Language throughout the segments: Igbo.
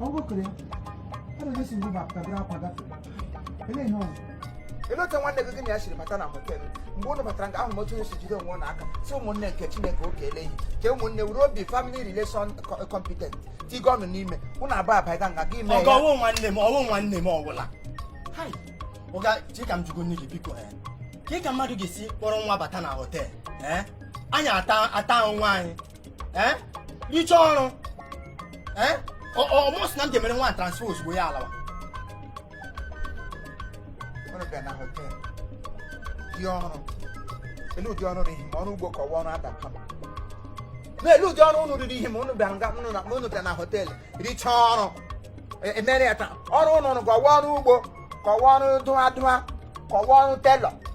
ọgụkụrụ adịghịsi mgbe bapụta bụrụ akwa gafere ele ihe ọzọ ele otu nwanne gị gị na ya siri bata na họtelụ mgbe ụnụ batara nga ahụ otu si jide onwe ụnụ aka si ụmụnne nke chineke oge eleghị ka ụmụnne were obi family relation co- competent tiga ọnụ n'ime ụnụ abụọ abaiga nga gị mee ọga ya ọwụ nwanne m ọwụ nwanne m ọwụla Hai, ọga chee ka m jụgo nne gị biko eh, ka ị ka mmadụ ga-esi kpọrọ nwa bata na họtel eh? anyị ata ata nwa anyị eh? richa ọrụ eh? ọ mụ sị na m ga-emere nwa transfer ozugbo ya alawa ụdị ọrụ ele ụdị ọrụ n'ihi ma ọrụ ugbo ka ọwụ ọrụ adaka ele ụdị ọrụ ụnụ riri ihe ma ụnụ bịara nga ụnụ na ụnụ bịara na họteelụ richa ọrụ e, emere ya taa ọrụ ụnụ ọwụ ọrụ ugbo ka ọwụ ọrụ dụwa dụwa ka ọwụ ọrụ telọ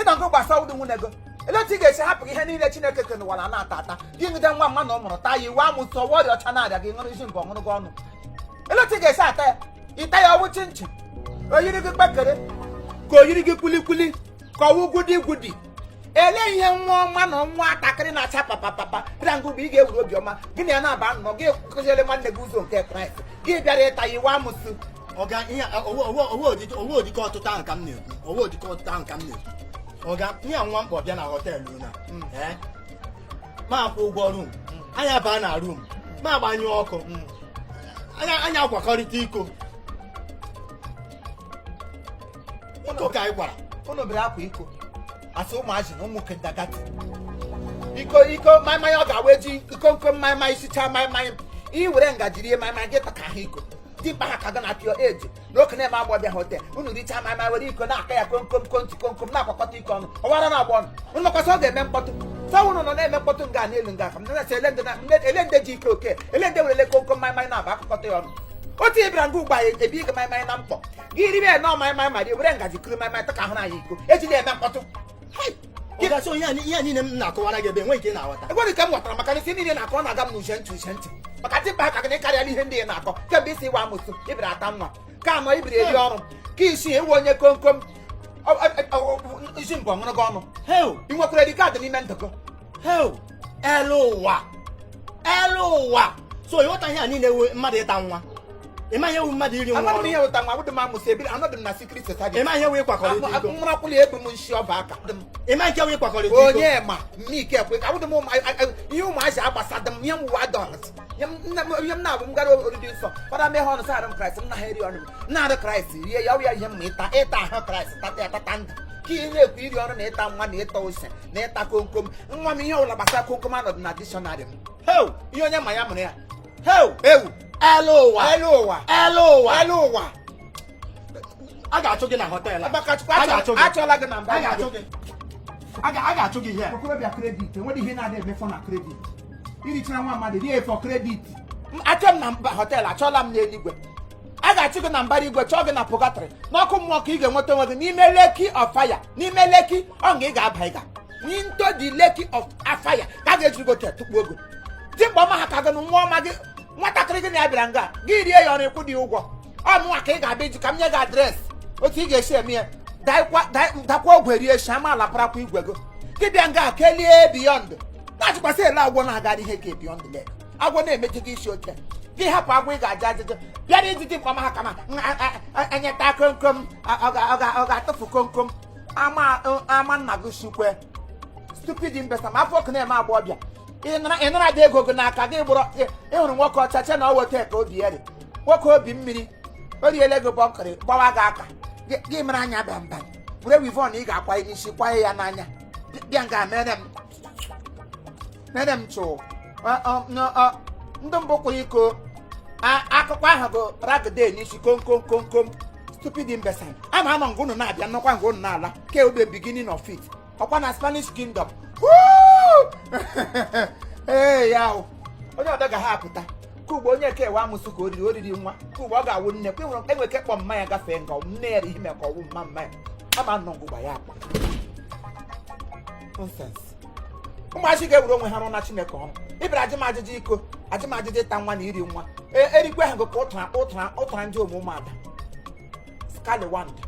ịnọgo gbasa awụdị nwunye gị ele otu ị ga-esi hapụ ihe niile chineke ke n'ụwa a na-ata ata gị jide nwa mmadụ mụrụ taa ya ịwụ amụsụ ọwụ ọrịa ọcha na-arịa gị ṅụrụ isi nke ọṅụrụ gị ọnụ ele otu ị ga-esi ata ya ịta ya ọwụ chinchin oyiri gị kpekere ka oyiri gị kwilikwili ka ọwụ gwudi gwudi ele ihe nwa mmadụ nwatakịrị na-acha papapapa bịa nga ebe ị ga-ewuru obiọma gị na ya na-aba nnọọ gị kụziere nwanne gị ụzọ nke kraịst gị bịara ịta ya ịwụ amụsụ ọga ihe a- ọwụ ọwụ ọwụdị nke ọwụdị nke ọtịta ahụ ka m na-ekwu ọwụdị nke ọtịta ahụ ka m na-ekwu ọga ihe a nwa agbọ bịa na họteelụ na ee mụ akwụọ ụgwọ rum anyị abaa na rum mụ agbanyụọ ọkụ anyị anyị akwakọrịta iko iko ka anyị gwara unu bere akwa iko asị ụmụazị na ụmụ kindergarten iko iko maịmaị ọ ga-awụ eji iko nko maịmaị isicha maịmaị ị were ngaji rie maịmaị gị taka ha iko dimkpa ha ka gị na pịọ eji na okenye na nwa agbọ bịa hotel unu richa maịmaị were iko na-aka ya komkom konti komkom na-akwakọta iko ọnụ ọwụ ara na-agba unu unu makwa sị ọ ga-eme mkpọtụ so ọwụ unu na-eme mkpọtụ nga na elu nga ka m na-asị ele ndị na- ndị- ele ndị ji ike oke ele ndị were ele komkom maịmaị na-aba akụkọta ya ọnụ otu ị bịara nga ugbu a ebi ike maịmaị na mkpọ gị ribe ya nọọ maịmaị ma rie were ngaji kuru maịmaị taka ahụ na ya iko ejila eme mkpọtụ gasị onye ihe niile m na-akọwara gị ebe enweghị nke ị na-aghọta enweghị nke m ghọtara maka ihe niile ị na-akọ na-aga m n'uche ntị uche ntị maka dimkpa ha ka gị karịala ihe ndị ị na-akọ kemgbe isi ịwụ amụsụ ibiri ata nwa ka anụ ibiri eri ọrụ ka isi ewu onye komkom isi mbụ ọṅụrụ gị ọnụ ị nwekwara ID kaadị n'ime ndụ gị hel elu ụwa elu ụwa so ịghọta ihe a niile ihe wụ mmadụ ịta nwa ịma ihe wụ mmadụ iri nwa Amaghị m ọrụ ihe wụ ịta nwa abụdị m amụsụ ebiri anọdị m na secret society ịma ihe wụ ịkwakọrịta iko mụrakwụli ebu m nshi ọba aka dị m ịma nke wụ ịkwakọrịta iko onye ma mmike ekwe ka abụdị m ụmụ- a- a- ihe ụmụazị agbasadị m ihe m wụ adọlt ihe m- nne m- ihe m na-abụ m gara oriri nsọ fada meghe ọnụ sị arụ kraịst m na ha eri ọnụ m nara arụ kraịst rie ya ọ ya ihe m ma ịta ịta ahụ kraịst tata ya tata ndụ ka ị na-ekwu iri ọrụ na ịta nwa na ịta ose na ịta komkom nwa m ihe ọwụla gbasara komkom anọdụ na dictionary m heu ihe onye ma ya mụrụ ya heu ewu elu ụwa elu ụwa elu ụwa elu ụwa a ga-achụ gị na hotel a Agbakachukwu A ga-achụ gị. achụọla gị na mba a ga-achụ gị a ga- a ga-achụ gị ihe okorobịa credit enwere ihe na-adị eme for na credit irichara nwa mmadụ rie for credit achụọ m na mba hotel achụọla m n'eluigwe a ga-achụ gị na mbara igwe chụọ gị na purgatory n'ọkụ mmụọ ka ị ga-enweta onwe gị n'ime lake of fire n'ime lake ọ nga ị ga-aba ịga into the lake of fire ka a ga-ejiri gị oche tukpuo ogo dimkpa ọma ha ka gị na nwa ọma gị nwatakịrị gị na ya bịara nga gị rie ya o ruo ịkwụ dị ụgwọ ọ mụnwa ka ị ga-abịa iji ka m nye gị address otu ị ga-esi eme ya dakwa ogwe rie shi ama ala parakwa igwe gị ị bịa nga kelie beyond na-achịkwasị ele agwọ na-aga ihe ka beyond lek agwọ na-emechi gị isi oche gị hapụ agwọ ị ga-ajụ ajụjụ bịara iji dimkpa ọma ha ka m enyeta komkom ọ ga-atụfu komkom ama nna gị shikwe stupid imbecile ma afọ ọkụ na-eme agba ọbịa ị nara dị ego gị n'aka gị gbụrụ ị hụrụ nwoke ọcha che na ọ weta ka obi ya dị nwoke obi mmiri o riele gị bọnkịrị gbawa gị aka gị mere anya bamba were weavon ị ga-akwa n'isi kwaye ya n'anya bịa nga mere m nene m chụ ndị mbụ kwụrụ iko akụkọ ahụ bụ ragide n'isi komkomkomkom stupid imbecile ama anọ nga unu na-abịa nọkwa nga unu na-ala ke ọ bụ beginning of it ọkwa na spanish kingdom ee ya onye ọdọ ga ha apụta ka ugbo onye ka ewe amụsụ ka oriri oriri nwa ka ugbo ọ ga-awụ nne kwa ịhụrụ enwe ike kpọ mmanya gafee nga nne ya ihe maka ọwụ mma mmanya ama nọ ngụgba ya akpa ụmụazị ga-ewere onwe ha rụọra chineke ọrụ ị bịara ajị m ajụjụ iko ajị m ajụjụ ịta nwa na iri nwa e, erikwe ha gụka ụtara ụtara ụtara ndị omume ụmụada skaliwanda